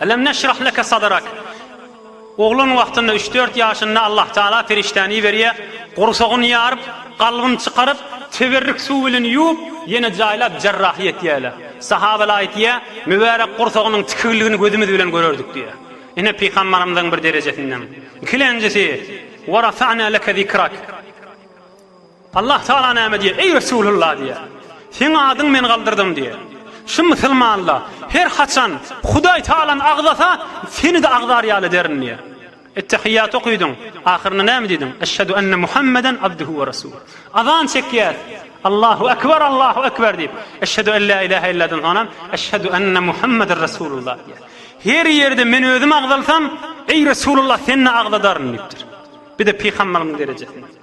Elem neşrah leke sadrak. Oglan wagtynda üç-dört ýaşynda Allah Taala perişdäni iberýär, gursagyny ýaryp, kalbyny çykaryp, teberrük suw bilen ýuwup, ýene jaýlap jarrahyýet etýärler. Sahabalar aýtýar, Mübärek gursagynyň tikigligini gözümiz bilen görerdik diýýär. Ine pygambarymyzyň bir derejesinden. Ikilenjisi, Wa rafa'na leke zikrak. Allah Tagala näme diýýär? Eý Resulullah diýýär. Seň adyň men galdyrdym diýýär. Şu musulmanla her haçan Hudaý Tagalany agzasa, seni-de agzar ýaly ederin diýýär. Ettehiýýaty okydyň, ahyrynda näme diýdiň? Eşhedü enne Muhammeden abduhu we rasul. Azan çekýär. Allahu ekber, Allahu ekber diýip, eşhedü en la ilahe illadan soňam eşhedü enne Muhammeden Resulullah diýýär. Her ýerde men özüm agzalsam, eý Resulullah seni-de agzadaryn diýipdir. Bir-de pygamberimiziň derejesinde.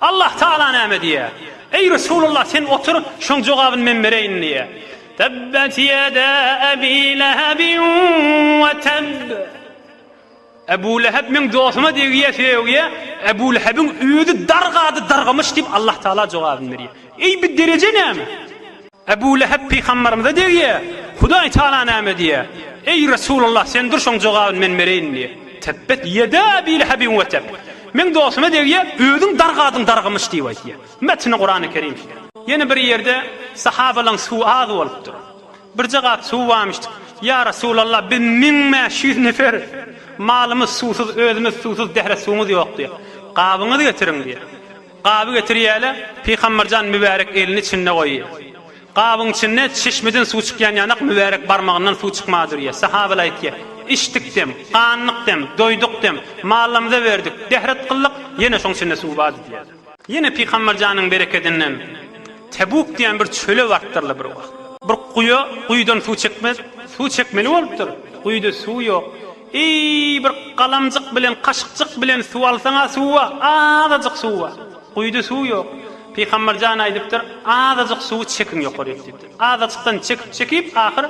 Allah Tagala näme diýýär? Eý Resulullah sen otur, şoň jogabyny men bereýin diýýär. Tebbet ýeda Ebi Lehebin we tebb. Ebu Leheb meň dostuma degýär, sögýär, Ebu Lehebiň özi dargady, dargamyş diýip Allah Tagala jogabyny berýär. Eý bi dereje näme? Ebu Lehep pygambarymyza degýä, Hudaý Tagala näme diýýä? Eý, Resulallah, sen dur şoň jogabyn men bereýin diýýä. Tebbet ýeda Ebi Lehebiň we teb. Meň dostuma degýä, özüň dargadyň dargymyş diýip aýtýa. Metni Kurany Kerim şudur. Ýene bir ýerde sahabalaň suwy az bolupdyr. Birje gap suwy barmyşdyk. Ýa Resulallah, biz müň bäş ýüz nefer, malymyz suwsuz, özümiz suwsuz, dehre suwumyz ýok diýýä. Gabyňyzy getiriň diýýä. Gaby getirýäle, Pygamberjan mübärek elini içinde goýýa. Gabyň içinde çeşmeden suw çykýan ýanak mübärek barmagyndan suw çykmaga durýa. Sahabylar aýtýa, Içdik dem, gandyk dem, doýduk dem, mallamyza berdik, dehret kyldyk, ýene şoň içinde suw bardy diýýäler. Ýene Pygamberjanyň berekedinden Tebuk diýen bir çöle bartdyrlar bir wagt. Bir guýa guýudan suw çekmez, suw çekmeli bolupdyr, guýuda suw ýok. Eý, bir galamjyk bilen, kaşykjyk bilen suw alsaň-a suwa, azajyk suwa. Guýuda suw ýok. Pygamber jan aýdypdyr, Azajyk suwy çekiň ýokaryk diýipdir. Azajykdan çekip-çekip, ahyr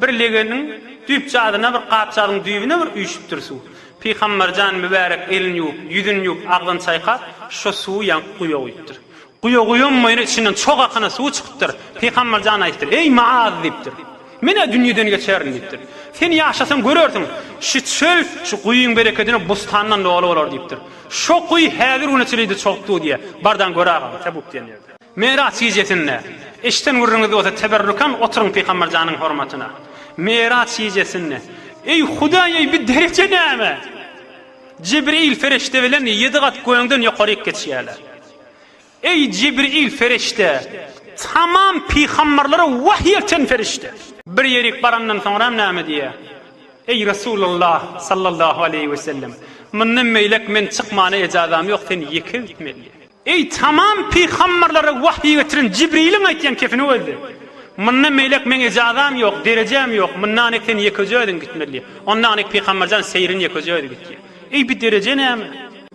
bir legeniň düýpjazyna, bir gapjazyň düýbüne bir üýşüpdir suw. Pygamber jan mübärek elini ýuwup, ýüzüni ýuwup, agzyny çaýkap, şo suwy ýaňky guýa guýupdyr. Guýa guýyň boýuna içinden çog akana suwy çykypdyr. Pygamber jana aýtdyr, Eý, Maaz! diýipdir. Men-ä dünýeden geçerin diýipdir. Sen ýaşasaň görersiň, şu çöl şu guýyň berekedine bustandan doly bolar diýipdir. Şo guýy häzir güne çylidi çog duw diýýä. Bardaň gör agam, Tebuk diýen ýerde. Meraç gijesinde, eşden gürrüňiz bolsa teberrukan oturyň Pygamber janyň hormatyna. Meraç gijesinde, Eý, Hudaý, eý, bi dereje näme? Jibril perişde bilen ýedi gat göňden ýokaryk geçýärler. Eý, Jibril perişde! Tamam pygamberlere wahyý elten perişde! Bir ýerik barandan soňram näme diýýä? Eý, Resulallah sallallahu aleýhi we sellem! Mundan beýläk men çykmana ejazam ýok, sen ýeke gitmeli. Eý, tamam pygamberlere wahyý getiren Jibriliň aýtýan kepini özdi! Mundan beýläk meň ejazam ýok, derejäm ýok, mundanik sen ýekeje özüň gitmeli. Ondanik pygamberjan seýrin ýekeje özi gitýä. Eý, bi dereje näme?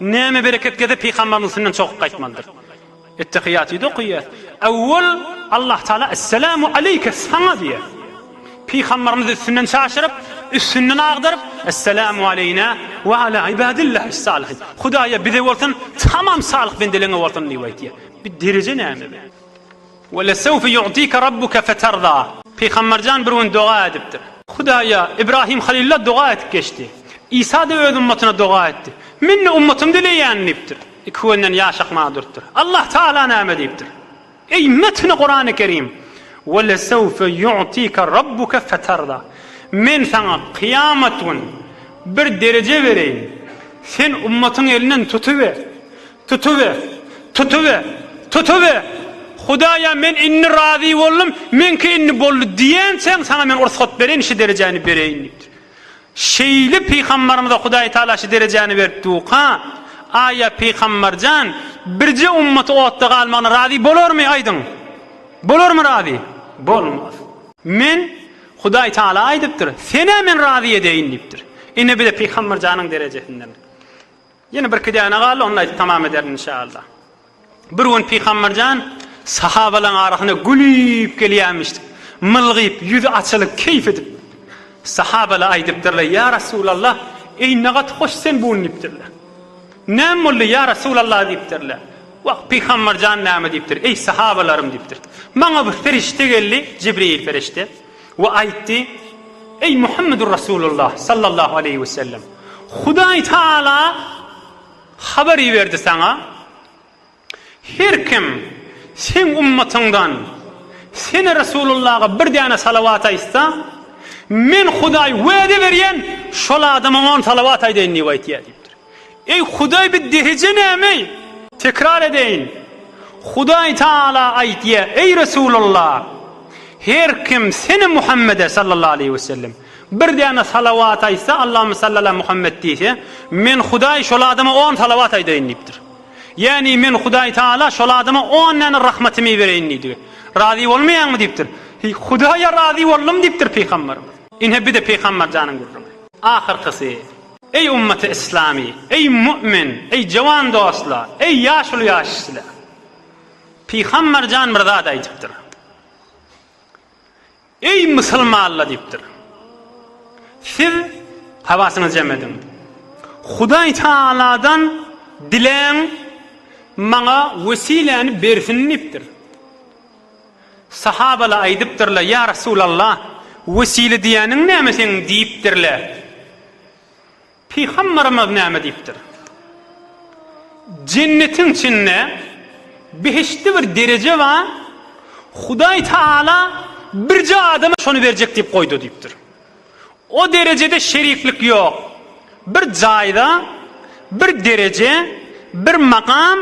Näme bereket geze pygambaryň üstünden çokup gaýtmalydyr. Ettehiýatyda okaýar. Awwal Allah Taala Esselamu aleýke saňa diýer. Pygambarymyz üstünden çaşyryp, üstünden agdaryp, Esselamu aleýna we ala ibadillahis salihin. Hudaýa bize bolsun, tamam salyh bendeleňe bolsun diýip aýtýar. Bir dereje näme? Welesewfe ýu'tike rabbuke feterda. Pygamberjan bir gün doga edipdir. Hudaýa, Ibrahim Halilula doga edip geçdi. Isa-da öz ummatyna doga etdi. Men-de ummatym dileýän diýipdir. Iki günden ýaşakmaga durupdyr. Allah Taala näme diýipdir? Eý, metni Kurany Kerim! Welesewfe ýu'tike rabbuke feterda. Men saňa kyýamat gün bir dereje bereýin. Sen ummatyň elinden tutuber. Tutuber! Tutuber! Tutuber! Hudaýa men indi razy boldum, meňki indi boldy diýençäň saňa men ursat bereýin, şu derejäni bereýin diýipdir. Şeýle pygambarymyza Hudaý Tagala şu derejäni beripdiuka, aýa pygambar jan, birje ummaty otda galmagyna razy bolarmy, aýdyň? Bolarmy razy? Bolmaz. Men, Hudaý Tagala aýdypdyr, senä men razy edeýin diýipdir. Ine bir-de pygambar janyň derejesindedir. Ýene birki däne galdy, onda aýdyp tamam ederin inşaAlla. Bir gün Pygamberjan sahabalaryň arasyna gülüp gelýämiş. Mylgyp, ýüzi açylyp, keýp edip. Sahabalar aýdypdyrlar, Ýa Resulalla, eý ne gaty hoş sen bu gün diýipdirler. Näme boldy ýa Resulalla diýipdirler. Wah, Pygamberjan näme diýipdir, Eý sahabalarym diýipdir. Maňa bir perişde geldi, Jibril perişde. We aýtdy, Eý, Muhammedur Resulullah sallallahu aleýhi we sellem! Hudaý Tagala habar iberdi saňa, Her kim seň ummatyňdan Sene Resulullaha bir däne salawat aýtsa, Men Hudaý wada berýän, şol adama on salawat aýdaýyn diýip aýt diýýär diýipdir. Eý, Hudaý bi deheje nämeý? Tekrar edeýin, Hudaý Tagala aýtýa, Eý, Resulalla! Her kim Seni, Muhammede, sallallahu aleýhi we sellem, bir däne salawat aýtsa, Allahümme salli ala Muhammed diýse, Men, Hudaý, şol adama on salawat aýdaýyn diýipdir. Ýagny, Men, Hudaý Tagala, şol adama on däne rahmatymy bereýin diýdi. Razy bolmaýaňmy? diýipdir. Hudaýa razy boldum diýipdir pygamberimiz. Ine, bi-de pygamberjanyň gürrüňi. Ahyrkysy. Eý ummaty yslamy, eý mu'min, eý jowan dostlar, eý ýaşuly ýaşsizler! Pygambar jan bir zat aýdypdyr. Eý musulmanlar diýipdir. Siz hawasyňyzy jem ediň. Hudaý Tagaladan diläň maňa wesiläni bersin diýipdir. Sahabalar aýdypdyrlar, Ýa Resulallah, wesile diýýäniň näme seň? diýipdirler. Pygamberimiz näme diýipdir? Jennetiň içinde behiştde bir dereje bar, Hudaý Taala birje adama şony berjek diýip goýdy diýipdir. O derejede şeriflik ýok. Bir jaýda bir dereje, bir makam,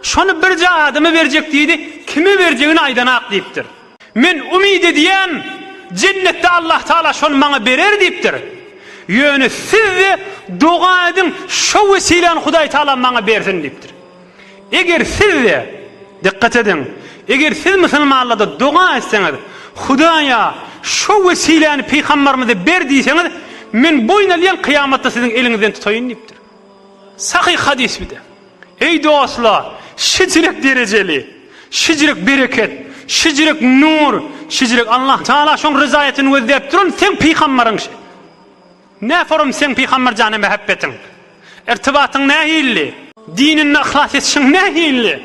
şony birje adama berjek diýdi, kime berjegini aýdanak diýipdir. Men umyt edýän, jennetde Allahtagala şony maňa berer diýipdir. Ýöne siz-de doga ediň, şo wesile-ni Hudaýtagala maňa bersin diýipdir. Eger siz-de, dykgat ediň, eger siz musulmanlarda doga etseňiz, Hudaýa, Şo wesiläni pygambarymyza ber diýseňiz, men boýun alýan kyýamatda siziň eliňizden tutaýyn diýipdir. Sahyh hadys bir-de. Eý dostlar, şijrek derejeli, şijrek bereket, şijrek nur, şijrek Allah Taala şoň ryzaýatyny gözläp duran seň pygambaryň şi. Nä sorum seň Pygamberjana mähebbetiň? Irtibatyň nähilli? Dininde yhlas etişiň nähilli?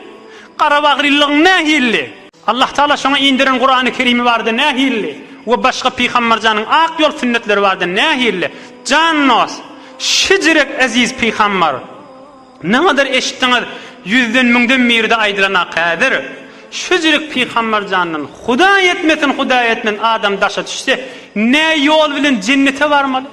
Garabagrylygyň nähilli? Allah Tagala şoňa inderen Kurany Kerimi barada nähilli? We başga Pygamberjanyň ak ýol sünnetleri barada nähilli? Jan dost! Şijirek eziz Pygamber! Nämedir eşitdiňiz, ýüzden müňden biride aýdylana häzir, şu jirik pygamber jandan, Hudaý etmesin, Hudaý etmesin, adam daşa düşse, nä ýol bilen jennete barmaly,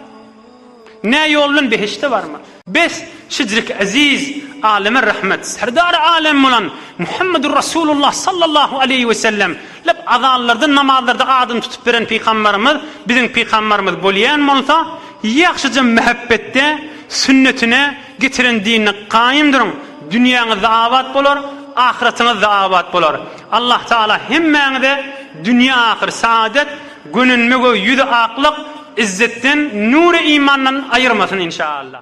nä ýol bilen behişde barmaly? Bes, şu jirik eziz Aleme Rahmet, Serdary Alem bolan Muhammedur Rasulullah sallallahu aleýhi we sellem lep azanlarda, namazlarda adyny tutup beren pygamberimiz biziň pygamberimiz bolýan bolsa, ýagşyja mähebbetde sünnetine, Getiren dinini kaýym duruň, dünýäňizde abat bolar, ahyratyňyzda abat bolar. Allah Taala hemmäňize dünýe ahyr saadet, gönenme göw ýüzi aklyk, izzetden, nury imandan aýyrmasyn inşaallah.